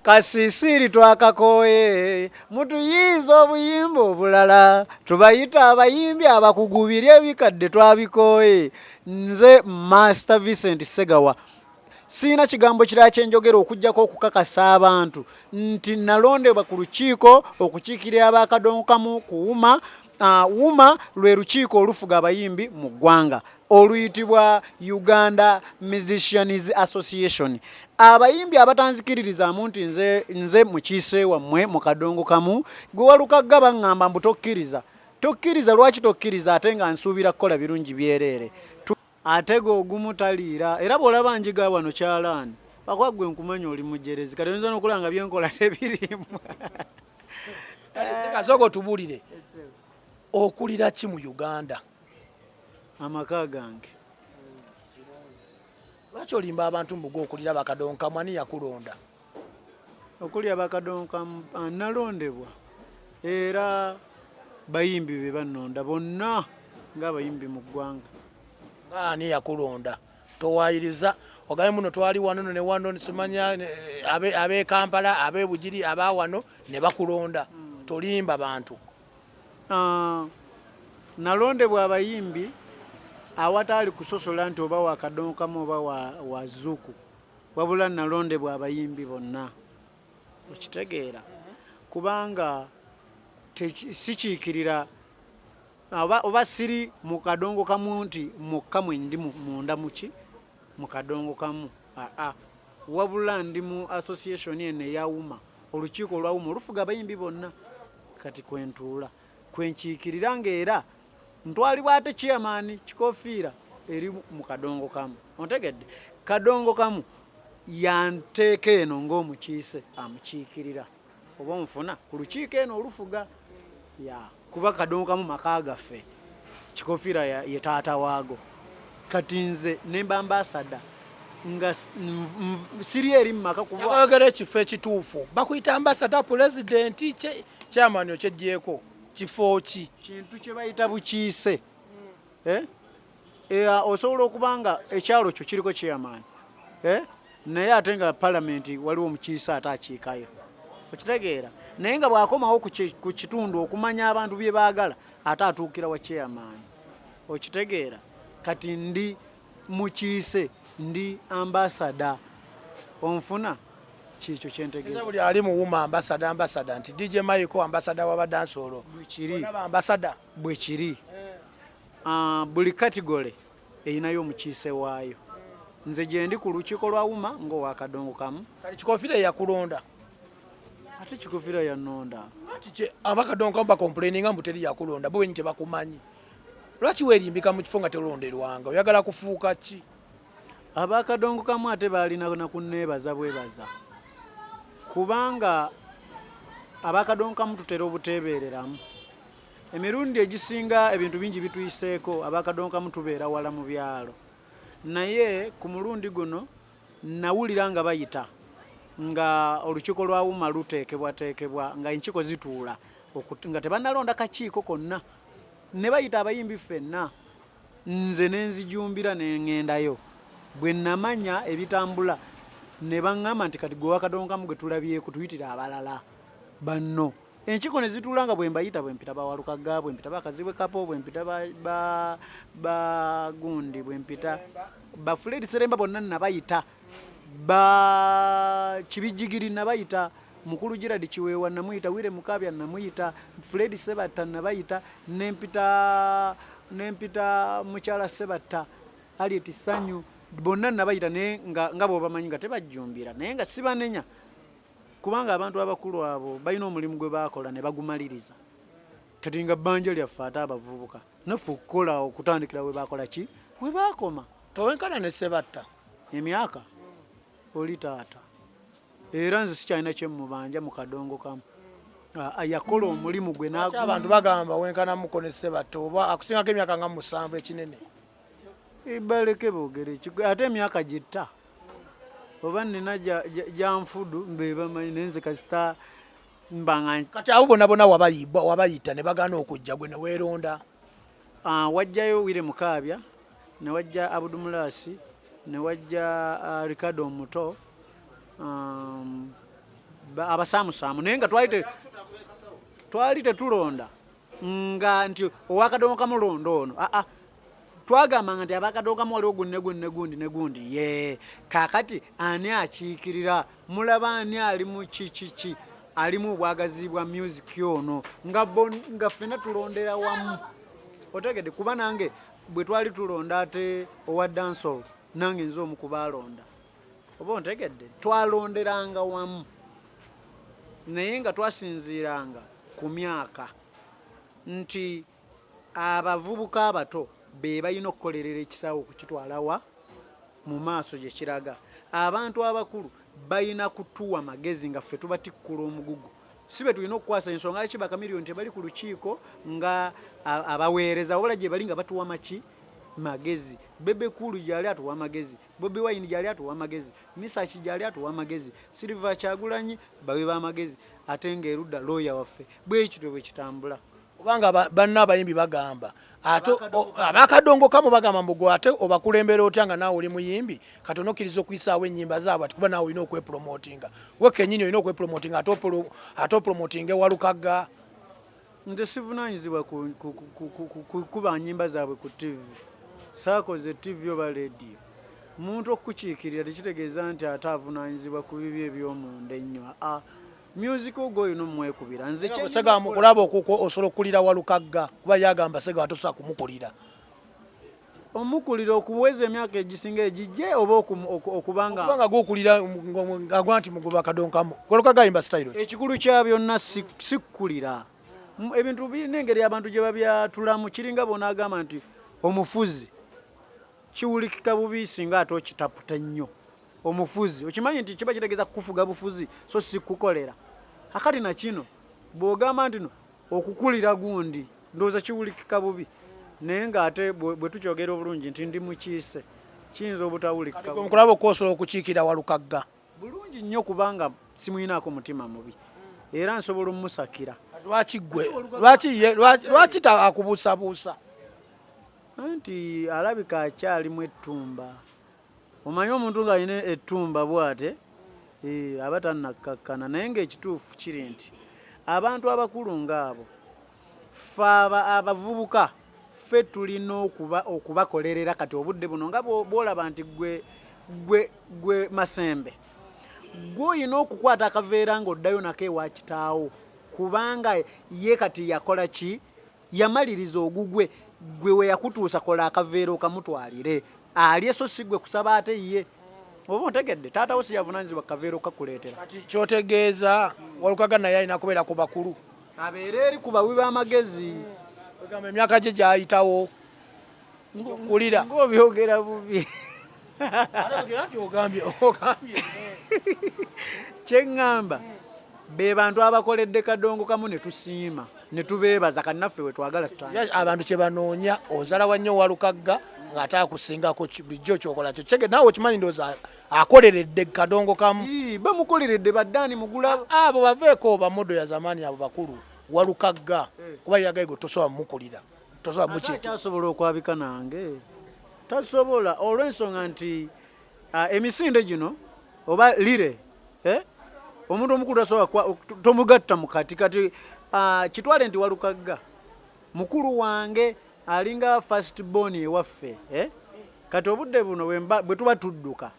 kasisiri twakakooye mutuyiiza obuyimba obulala tubayita abayimbi abakugu biri ebikadde twabikooye nze master vincent segawa siina kigambo kirala kyenjogera okugyako okukakasa abantu nti nalondebwa ku lukiiko okukiikirira abakadonkamu kuwuma Uh, wuma lwe lukiiko olufuga abayimbi mu ggwanga oluyitibwa uganda musicians association abayimbi abatanzikiririzaamu nti nze, nze mukiise wammwe mu kadongo kamu gwe walukagga baŋŋamba mbu tokkiriza tokkiriza lwaki tokkiriza ate nga nsuubira kukola birungi byereere Atega ogumu taliira era bw'olaba njiga wano kyalaani akuba ggwe nkumanya oli mujerezi kati oyinza n'okulaba nga byenkola tebirimu kasoka otubuulire okulira ki mu uganda amaka gange lwaki olimba abantu mbuga okulira bakadonkamwani yakulonda okuli abakadonka nalondebwa era bayimbi be bannonda bonna ng'abayimbi mu ggwanga ani yakulonda towayiriza ogabe muno twali wano no ne wano simanya eh, abe kampala abe bugiri aba wano ne bakulonda hmm. tolimba bantu ah, nalondebwa abayimbi awataali kusosola nti oba wakadonkamu oba wazuuku Wabula nalondebwa abayimbi bonna okitegeera kubanga sikiikirira oba siri mu kadongo kamu nti mukka mwe ndi munda muki mu kadongo kamu aa wabula ndi mu association eno eyawuma olukiiko olwawuma olufuga abayimbi bonna kati kwentuula kwenkiikirira ngaera ntwalibwa ate chairman kikofiira eri mu kadongo kamu ontegedde kadongo kamu yanteeka eno ng'omukiise amukiikirira oba onfuna ku lukiiko eno olufuga ya kuba kadongo kamu maka gaffe kikofiira ye taata waago kati nze nemba ambasada nga siri eri mu maka kubaagala ekifo ekituufu bakuyita ambasada pulezidenti chairman okyegyeko kifo ki kintu kye bayita bukiise eh? eh, osobola okuba nga ekyalo kyo kiriko kyeyamaanyi eh? naye ate nga palamenti waliwo omukiise ate akiikayo okitegeera naye nga bwakomawo ku kitundu okumanya abantu bye baagala ate atuukira wa kyeyamaanyi okitegeera kati ndi mukiise ndi ambasada onfuna kyekyo kyentegeebuli ali muwuma ambasada ambasada nti dj maiko ambasada wabadansoolo bwekiriambasada bwekiri eh. ah, buli katigole erinayo omukiise waayo nze gyendi ku lukiiko lwa wuma ngaowakadongo kamu kati kikofira eyakulonda ate kikofira yanonda abakadongo kamu bakomplaininga mbu teri yakulonda bo wenyi tebakumanyi Lwaki weerimbika mu kifo nga tolonderwanga? Oyagala kufuuka ki? Ab'akadongo kamu ate baalina na kunneebaza bwebaza kubanga ab'akadongo kamu tutera obuteebeereramu. Emirundi egisinga ebintu bingi bituyiseeko ab'akadongo kamu tubeera wala mu byalo, naye ku mulundi guno nawulira nga bayita nga olukiiko lwa UMA luteekebwateekebwa nga enkiiko zituula nga tebannalonda kakiiko konna. ne bayita abayimbi ffenna nze ne nzijumbira ne ŋŋendayo bwe namanya ebitambula ne baŋŋamba nti kati gwe wakadonkamu gwe tulabyeko tuyitire abalala banno enkiiko ne zituula nga bwe mbayita bwe mpita bawalukagga bwe mpita bakazibwe kapo bwe mpita bagundi bwe mpita bafuledi seremba bonna nabayita Ba kibijjigiri nabayita mukulu Gerald Kiweewa namuyita, Wire Mukaabya namuyita, Fred Sebatta nabayita, nempita nempita mukyala Sebatta Harriet Sanyu bonna nabayita naye nga, nga bwobamanyi nga tebajjumbira naye nga sibanenya kubanga abantu abakulu abo balina omulimu gwe baakola ne bagumaliriza kati nga bbanja lyaffe ate abavubuka naffe okukola okutandikira we baakola ki we baakoma Towenkana ne Sebatta emyaka oli taata era nze sikyalina kyemubanja mu kadongo kamu ah, ah, yakola omulimu gwe abantu bagamba wenkanamuko ne Sebatta oba akusingako emyaka nga musanvu ekinene eh, baleke bogere ate emyaka gitta oba nina gyanfudu bebamanyi naye nze kasita mbanga kati abo bonabona wabayita ne bagana okujja gwe neweronda Ah, wajjayo Wire Mukaabya ne wajja Abudu Mulaasi ne wajja ah, Ricardo omuto um, ba- abasaamusaamu naye nga twali te- twali tetulonda nga nti owakadongo kamu londa ono aa twagambanga nti abakadongo kamu waliwo gunne gunne gundi ne gundi ye kakati ani akiikirira mulaba ani ali mu kikiki alimu obwagazi bwa music ono nga bon nga fena tulondera wamu otegede kuba nange bwe twali tulonda ate owa dancehall nange nze omu kubaalonda oba ontegedde twalonderanga wamu naye nga twasinziiranga ku myaka nti Abavubuka abato be balina okukolerera ekisaawe okukitwala wa mu maaso gye kiraga. Abantu abakulu balina kutuwa magezi nga ffe tubatikkula omugugu. Si be tulina okukwasa ensonga. Lwaki ba Chameleone tebali ku lukiiko nga abaweereza wabula gye bali nga batuwa maki magezi bebe kulu gyali atuwa magezi bobi wine gyali atuwa magezi misaki gyali atuwa magezi silver kyagulanyi bawe ba magezi ate nga erudda looya waffe bwekityo bwekitambula kubanga banna abayimbi bagamba ate abakadongokamu bagamba mbu gwe ate obakulembera otya nga naawe oli muyimbi kati onokkiriza okuyisaawo ennyimba zaabwe ati kuba naawe olina okwepromotinga we kenyini olina okwepromotinga ate opromotinga ewalukagga nze sivunaanyizibwa kukuba nyimba zaabwe ku tivi saakoze tivi oba lediyo omuntu okukiikirira tekitegeeza nti ate avunaanyizibwa ku bibi ebyomunda ennyo aa music ogwo oyina omwekubira nze kyesega mukulaba okuko osobola okukulira walukagga kuba yagamba sega atusa kumukulira omukulira okuweza emyaka egisinga egijje oba okubanga kubanga gukulira agwa nti mugoba kadonkamu walukagga ayimba sitayiro ekikulu kya byonna sikukulira ebintu birina engeri abantu gye babyatulamu kiringa bona agamba nti omufuzi kiwulikika bubi singa ate okitaputa ennyo omufuzi okimanyi nti kiba kitegeeza kukufuga bufuzi so si kukukolera akati na kino bw'ogamba ntino okukulira gundi ndowooza kiwulikika bubi naye ng'ate bwe tukyogera obulungi nti ndi mukiise kiyinza obutawulikikaokulaba okuosobola okukiikira walukagga bulungi nnyo kubanga simuyinaako mutima mubi era nsobola omusakira lwaki gwe lwaki akubuusabuusa anti alabika akyalimu ettumba Omanyi omuntu ng'alina ettumba bwate eh, aba tannakkakkana naye ng'ekituufu kiri nti abantu abakulu ng'abo ffe abavubuka ffe tulina okuba okubakolerera kati obudde buno nga bwolaba nti gwe gwe gwe masembe gwe olina okukwata akaveera ng'oddayo nako ewa kitaawo kubanga ye kati yakola ki Yamaliriza ogugwe gwe weyakutuusa kola akaveera okamutwalire alye so si gwe kusaba ate ye oba ontegedde taata wo siyavunanyizibwa kaveera okakuleetera kati kyotegeeza walukaga naye alina kubeera ku bakulu abeera eri ku bawi b'amagezi egamba emyaka gye gyayitawo kulira ng'obyogera bubi kyeŋŋamba be bantu abakoledde kadongo kamu ne tusiima ne tubeebaza kannaffe we twagala abantu kye banoonya ozala wa nnyo walukagga ng'ate akusingako bulijjo kyokola kyo kyege naawe okimanyi ndooza akoleredde kadongo kamu bamukoleredde baddaani mugula abo baveeko bamodo ya zamaani abo bakulu walukagga eh. kuba yagayigo tosobola mukulira tosobola mukyasobola okwabika nange tasobola olw'ensonga nti emisinde gino oba lire eh, omuntu omukulu tasobola tomugatta mu kati kati kitwale nti walukagga mukulu wange alinga first born ewaffe eh? kati obudde buno bwe tuba tudduka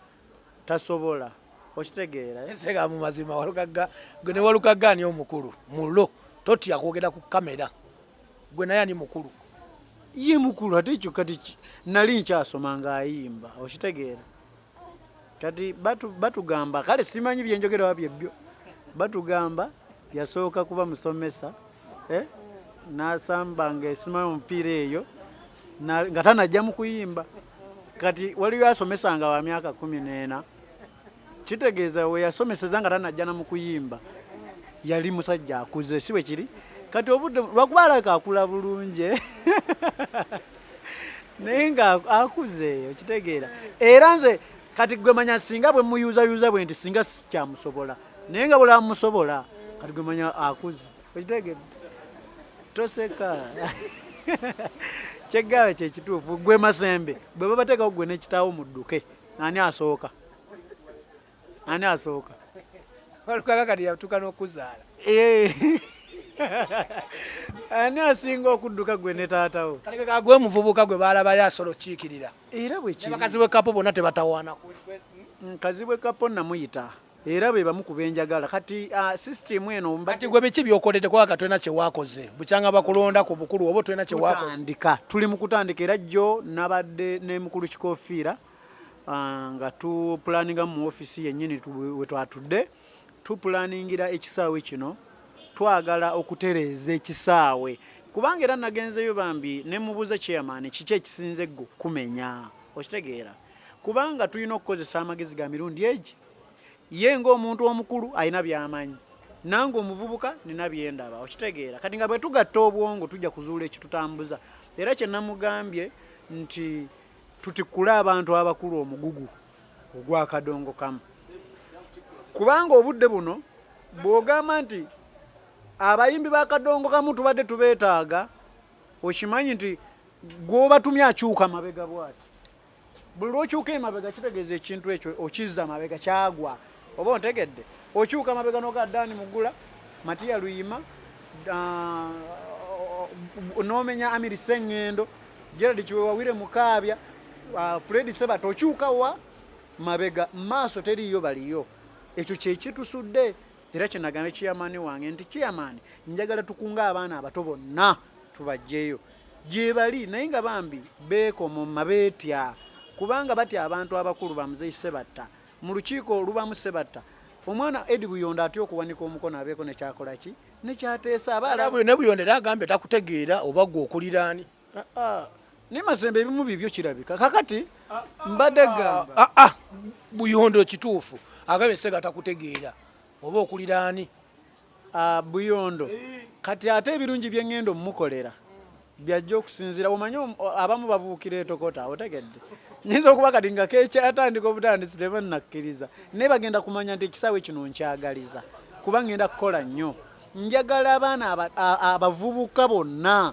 tasobola okitegeera eh? nsega mu mazima walukagga ne walukagga ani omukulu mulo totya kwogera ku kamera gwe naye ani mukulu ye mukulu ate ekyo kati nali nkyasoma ngaayimba okitegeera kati batugamba batu kale simanyi byenjogera wabye byo batugamba yasooka kuba musomesa eh? nasamba nga esima omupiira eyo nga tanajja mu kuyimba kati waliyo asomesa nga wa myaka kumi n'ena kitegeeza we yasomeseza nga tanajjana mu kuyimba yali musajja akuze si bwe kiri kati obudde lwakuba alabika akula bulungi eh? naye nga akuze okitegeera era nze kati gwe manya singa bwe muyuzayuza bwe nti singa sikyamusobola naye nga bwolaba musobola kati gwe manya akuze okitegede toseka kyeggaawe kyekituufu gwe masembe bwe babateekawo gwe nekitaawo mudduke Ani asooka? Ani asooka? Walukaga kati yatuuka n'okuzaala. Eh. Ani asinga okudduka gwe ne taatawo? Kati ke kagwe muvubuka gwe baalabayo asola okukiikirira. Era bwe kiri. Abakazi b'e Kapo bonna tebatawaana. Nkazi bw'e Kapo namuyita. era be bamu ku benjagala kati uh, system eno kati gwe biki byokolede kwaka twena kyewakoze bukyanga bakulonda ku bukulu obo twena kyewakotandika tuli mu kutandika era jjo nabadde ne mukulu kikofiira uh, nga tupulaninga mu ofisi yennyini we twatudde tupulaningira ekisaawe kino twagala okutereeza ekisaawe kubanga era nagenzeyo bambi nemubuuza chairman kiki ekisinze gwe kumenya okitegeera kubanga tulina okukozesa amagezi ga mirundi egi ye ngaomuntu omukulu alina byamanyi nange omuvubuka nina byendaba okitegeera kati nga bwetugatta obwongo tujja kuzuula ekitutambuza era kyenamugambye nti tutikule abantu abakulu omugugu ogwakadongo kamu kubanga obudde buno bwogamba nti abayimbi bakadongo kamu tubadde tubeetaaga okimanyi nti gwobatumye akyuka mabega bwati buli lwokyuka emabega kitegeeza ekintu ekyo okizza mabega kyagwa oba ontegedde okyuka mabega noga dani mugula matiya luyima ah, nomenya amiri sengendo gerald kiwewawire mukaabya ah, fred sebat okyuka wa mabega maaso teriyo baliyo ekyo kyekitusudde era kyenagambye chairman wange nti chairman njagala tukunga abaana abato bonna tubajjeeyo gyebali naye nga bambi beekomoma beetya kubanga batya abantu abakulu bamuzeyi sebatta mu lukiiko olubamu sebatta omwana edi buyondo atya okuwanika omukono abeeko nekyakolaki nekyateesa abaalabuli ne buyondo era agambye takutegeera oba gwe okuliraani Ah, ah. naye mazembe ebimu bibyo kirabika kakati ah, mbadde gamba buyondo kituufu agabye sega takutegeera oba okulira ani buyondo eh. kati ate ebirungi byengenda omumukolera byajja okusinzira omanyi abamu babuukira etokota otegedde nyinza okuba kati nga kekyatandika obutandisi tebanakkiriza naye bagenda kumanya nti ekisaawe kino nkyagaliza kuba ngenda kukola nnyo njagala abaana abavubuka bonna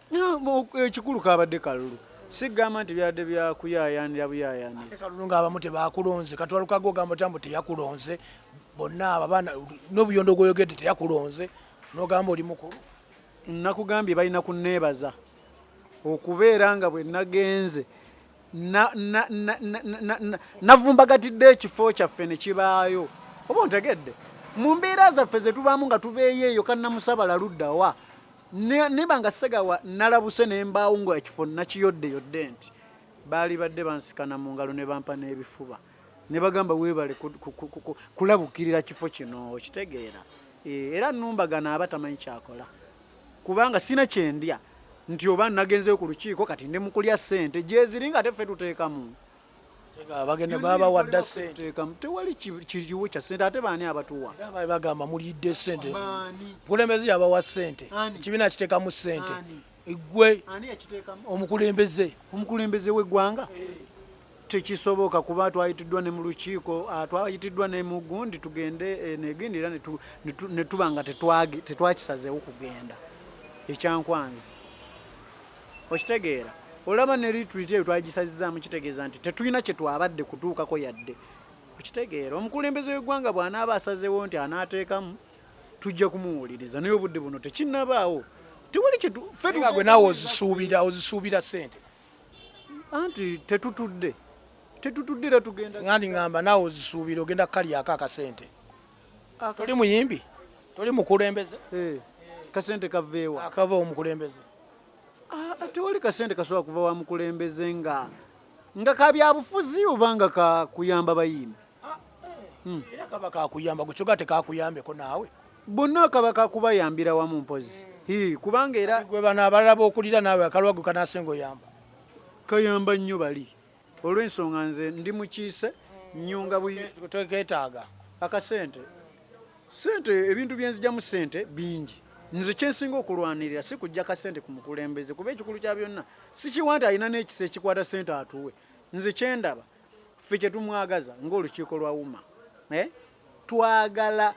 ekikulu kabadde kalulu sigamba nti byadde byakuyayanira buyayanira kalulu nga abamu tebakulonze katwalukaga ogamba otya mbu teyakulonze bonna abo abaana n'obuyondo gwoyogedde teyakulonze nogamba oli mukulu nakugambye balina kuneebaza okubeera nga bwe nagenze navumbagatidde ekifo kyaffe ne kibaayo oba ontegedde mu mbeera zaffe ze tubaamu nga tubeeyo eyo kannamusabala luddawa neba nga segawa nalabuse ne mbaawo nga ekifo nakiyodde yodde nti baali badde bansikana mu ngalo ne bampa n'ebifuba ne bagamba weebale kulabukirira kifo kino okitegeera eh, era numbagana aba tamanyi kyakola kubanga sina kyendya nti oba nagenzeyo ku lukiiko kati ndi mukulya ssente gyeziri nga ate ffe tuteekamu bagenda baba wadda sente tewali kiriwo kya sente ate baani abatuwa bali bagamba mulidde sente mukulembeze yabawa sente ekibiina kitekamu sente gwe omukulembeze omukulembeze w'eggwanga eh. tekisoboka kuba twayitiddwa ne mu lukiiko ah, twayitiddwa ne mu gundi tugende eh, negendi era ne tuba nga tetwakisazeewo kugenda ekyankwanzi okitegeera olaba ne retreat eyo twagisazizaamu kitegeeza nti tetulina kye twabadde kutuukako yadde okitegeera omukulembeze w'eggwanga bw'anaaba asazewo nti anaateekamu tujja kumuwuliriza naye obudde buno tekinnabaawo tewali kyefegwe naawe ozisuubira ozisuubira sente anti tetutudde tetutudde era tugenda ngandi ngamba naawe ozisuubira ogenda kukalyako akasente toli muyimbi toli mukulembeze eh, kasente kaveewa akava omukulembeze Ah, tewali kasente kasobola kuva wa mukulembeze nga nga ka byabufuzi oba nga kakuyamba bayimbi ah, hmm. era kaba kakuyamba gukyoga tekakuyambeko naawe bonna kaba kakubayambira wamu mpozi kubanga era gwe bano abalala bokulira naawe akalwago kanasenga oyamba kayamba nnyo bali olw'ensonga nze ndi mukiise nyunga buyetaaga akasente sente ebintu byenzijamu sente bingi nze kyensinga okulwanirira si kujja kasente ku mukulembeze kuba ekikulu kya byonna sikiwa nti alina n'ekisa ekikwata sente atuwe nze kyendaba ffe kyetumwagaza ngaolukiiko lwa wuma eh? twagala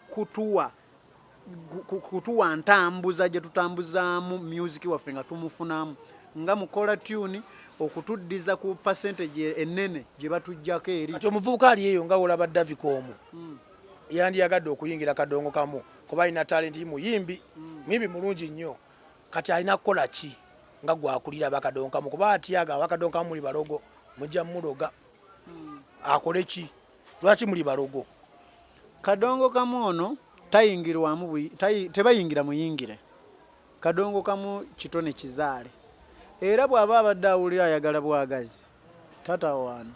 kutuwa kutuwa ntambuza gye tutambuzaamu myuziki waffe nga tumufunamu nga mukola tuni okutuddiza ku pasentage ennene gye batuggyako eri kati omuvubuka ali eyo nga wolaba davika omu hmm. yandiyagadde okuyingira kadongo kamu kuba alina talenti muyimbi hmm. muyimbi mulungi nnyo kati alina kukola ki nga gwakulira bakadongo kamu kuba atyaga abakadongo kamu muli balogo mujja muloga hmm. akole ki Lwaki muli balogo? Kadongo kamu ono tayingirwamu tebayingira muyingire kadongo kamu kitone kizaale era bw'aba abadde awulira ayagala bwagazi tatawaana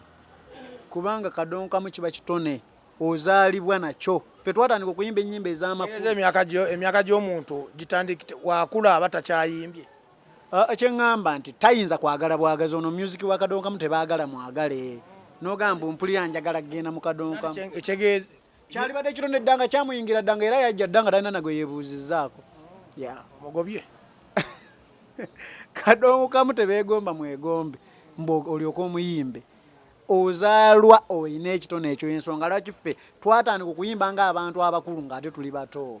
kubanga kadongo kamu kiba kitone ozaalibwa nakyo ffe twatandika okuyimba ennyimba ez'amakulu emyaka gy'omuntu gitandikite wakula aba takyayimbye Uh, ekyengamba nti tayinza kwagala bwagazi ono music wa kadonkamu tebagala mwagale nogamba mpulira njagala kugenda mu kadonkamu kyalibadde kiro neddanga kyamuyingira ddanga era yajja ddanga talina nagwe yebuuzizaako omugobye kadonkamu tebegomba mwegombe mbu olyoka omuyimbe ozaalwa olina ekitone ekyo ensonga lwaki ffe twatandika okuyimba ng'abantu abakulu ng'ate tuli bato